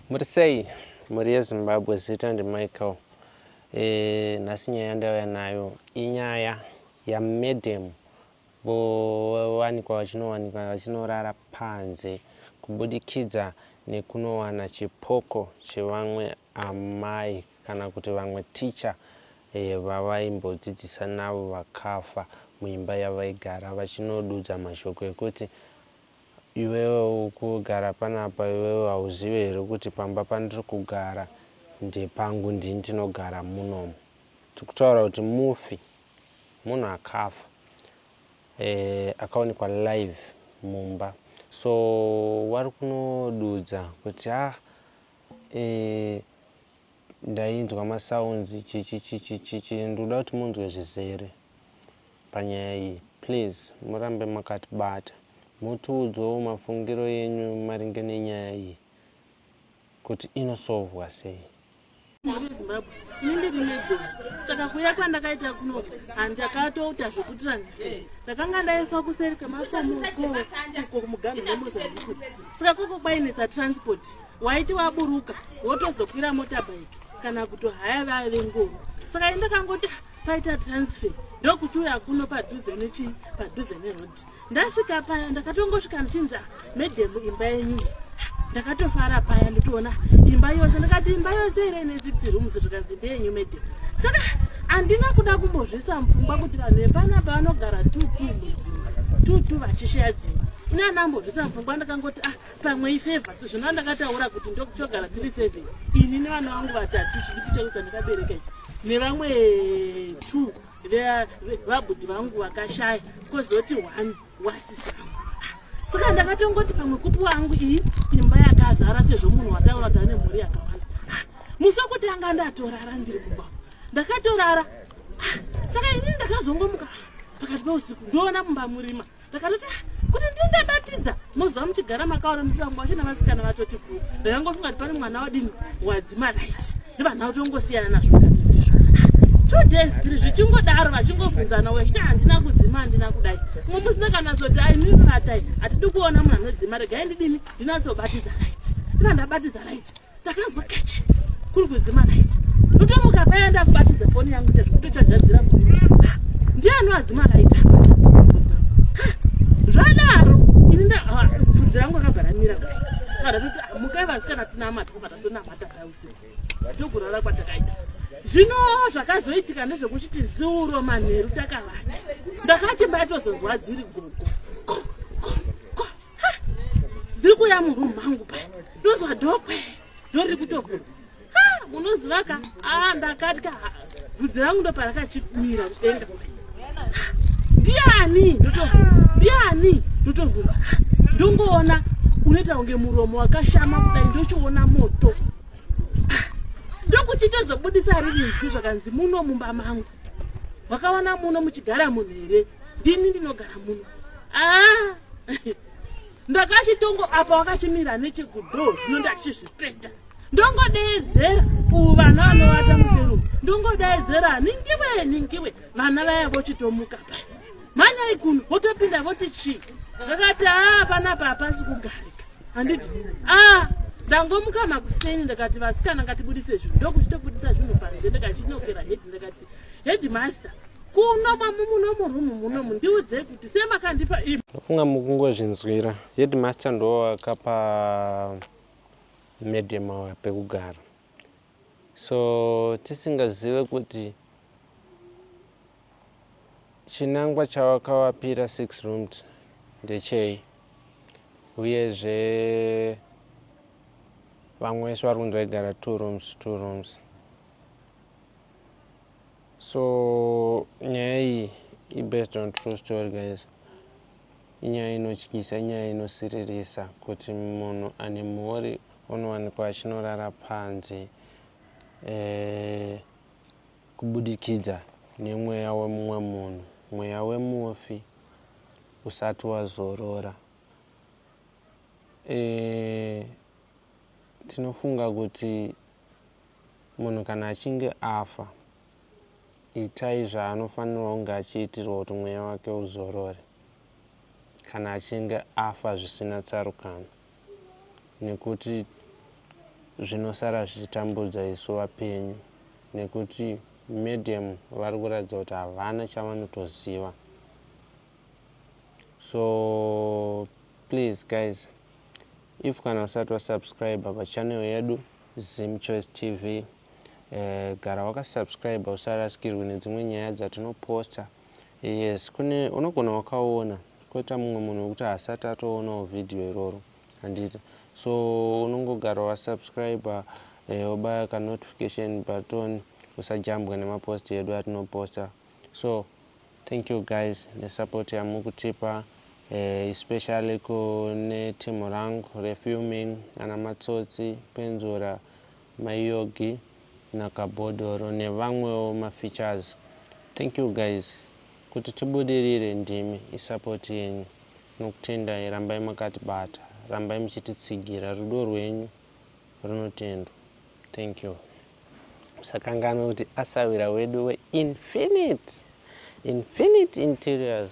Muri sei mhuri yeZimbabwe zita ndiMichael e, nhasi nyaya yandauya nayo inyaya yamadam vowanikwa vachinowanikwa vachinorara panze kubudikidza nekunowana chipoko chevamwe amai kana kuti vamwe ticha e, vavaimbodzidzisa navo vakafa muimba yavaigara vachinodudza mashoko ekuti Iwewe ukugara panapa iwewe hauzive here kuti pamba pandiri kugara ndepangu ndini ndinogara munomu. Tiri kutaura kuti mufi munhu akafa eh, akaonekwa live mumba so vari kunodudza kuti ah eh, ndainzwa ma sounds chichichichichichi ndoda kuti munzwe zvizere panyaya iyi please murambe makatibata motiudzawo mafungiro enyu maringe nenyaya iyi kuti inosovhwa sei. Ndiri Zimbabwe, ini ndiri neGoli, saka kuuya kwandakaita kuno handakatoita zvekutransfer. Ndakanga ndaiswa kuseri kwemakomo uko, uko kumuganhu weMozambique, saka koko kwainetsa transport. waiti waburuka wotozokwira motorbike kana kutohaya vaya vengoro saka ini ndakangoti paita transfer ndokuchiuya kuno padhuze nechii padhuze neroad ndasvika paya ndakatongosvika ndichinzi ah, medhemu imba yenyu ndakatofara paya nditoona imba yose ndakati imba yose ire ine zidzirumusi zvikanzi ndeyenyu medhemu saka handina kuda kumbozvisa mupfungwa kuti vanhu vepanapa vanogara tutu mudzimba tutu vachishaya dzimba ini andambozvisa mupfungwa ndakangoti ah pamwe ifevha sezvino andakataura kuti ndokutogara tiri seven ini nevana vangu vatatu chidiki changu chandakabereka ichi nevamwe two vabhudhi vangu vakashaya kozoti one wasisa saka ndakatongoti pamwe kupi wangu iyi imba yakazara sezvo munhu wataura kuti ane mhuri yakawanda musi wekutanga ndatorara ndiri kumba ndakatorara saka ini ndakazongomuka pakati peusiku ndoona mumba murima ndakaroti ah, kuti ndindabatidza moziva muchigara makaona nditangu vacho navasikana vacho ti guu ndakangofunga kuti pane mwana wadini wadzimalait ndivanha kuti ongosiyana nazvo two days three zvichingodaro vachingobvunzana wechiti handina kudzima handina kudai mumwe musi ndakanatsoti ainivatai hatidi kuona munhu anodzima regai ndidini ndinatsobatidza lait ndina ndabatidza lait ndakanzwa keche kuri kuzima light ndotomuka paya ndakubatidza foni yangu ita zvekutochajadzira foni ndiye anoadzima light zvadaro ini ndabvudzi rangu akabva ramira mukai vasikana tinamata kubva tatonamata paya usiku ndokurara kwatakaita zvino zvakazoitika ndezvekuti tiziuro manheru takavata ndakati mbaitozonzwa dziri gogo dziri kuuya muroom mangu pa ndozwa dokwe ndo riri kutobva munoziva ka a ndakatya vhudzi rangu ndo parakachimira kudenga ndiani ndotobvunza ndiani ndotobvunza ndongoona unoita kunge muromo wakashama kudai ndochiona moto ndokuchitozobudisa riri nzwi zvakanzi muno mumba mangu wakawana muno muchigara munhu here ndini ndinogara muno ah! ndakachitongo apa wakachimira nechekudo zvino ndachizvipeta ndongodeedzera uvu vana vanovata museru ndongodeedzera ningiwe ningiwe vana vaya vochitomuka pa manyai kuno votopinda voti chii vakati haa ah, panapa hapasi kugarika handiti ah ndangomuka makuseni ndakati vasikana ngatibudise zvinhu ndokuchitobudisa zvinhu panze ndikachinokera head ndakati headmaster kuno mamu muno murumu munomu ndiudzei kuti semakandipa i ndofunga mukungozvinzwira headmaster ndo akapa medium awa pekugara So tisingazive kuti chinangwa chawakavapira six rooms ndechei uyezve vamwe vese vari kunzi vaigara two rooms two rooms. So nyaya iyi i based on true story guys. Inyaya inotyisa, inyaya inosiririsa kuti munhu ane mhuri onowanikwa achinorara panze eh, kubudikidza nemweya wemumwe munhu, mweya wemufi usati wazorora. Eh, tinofunga kuti munhu kana achinge afa itai zvaanofanirwa kunge achiitirwa kuti mweya wake uzorore kana achinge afa zvisina tsarukano nekuti zvinosara zvichitambudza isu vapenyu nekuti medium vari kuratidza kuti havana chavanotoziva so Please guys if kana usati wasubscriber pachannel yedu Zim Choice TV eh, gara wakasubscriber usarasikirwe nedzimwe nyaya dzatinoposta yes kune unogona wakaona koita mumwe munhu wekuti hasati atoonawo vhidhiyo iroro handiti so unongogara wasubscriber eh, obaya kanotification button usajambwa nemaposti edu atinoposta So thank you guys nesupport yamukutipa eh, especially kune team rangu refilming ana matsotsi penzura mayogi nakabhodhoro nevamwewo mafeatures thank you guys kuti tibudirire ndimi isupport yenyu nokutendai rambai makatibata rambai muchititsigira rudo rwenyu runotendwa Thank you. Usakanganwe kuti asawira wedu we Infinite. Infinite Interiors.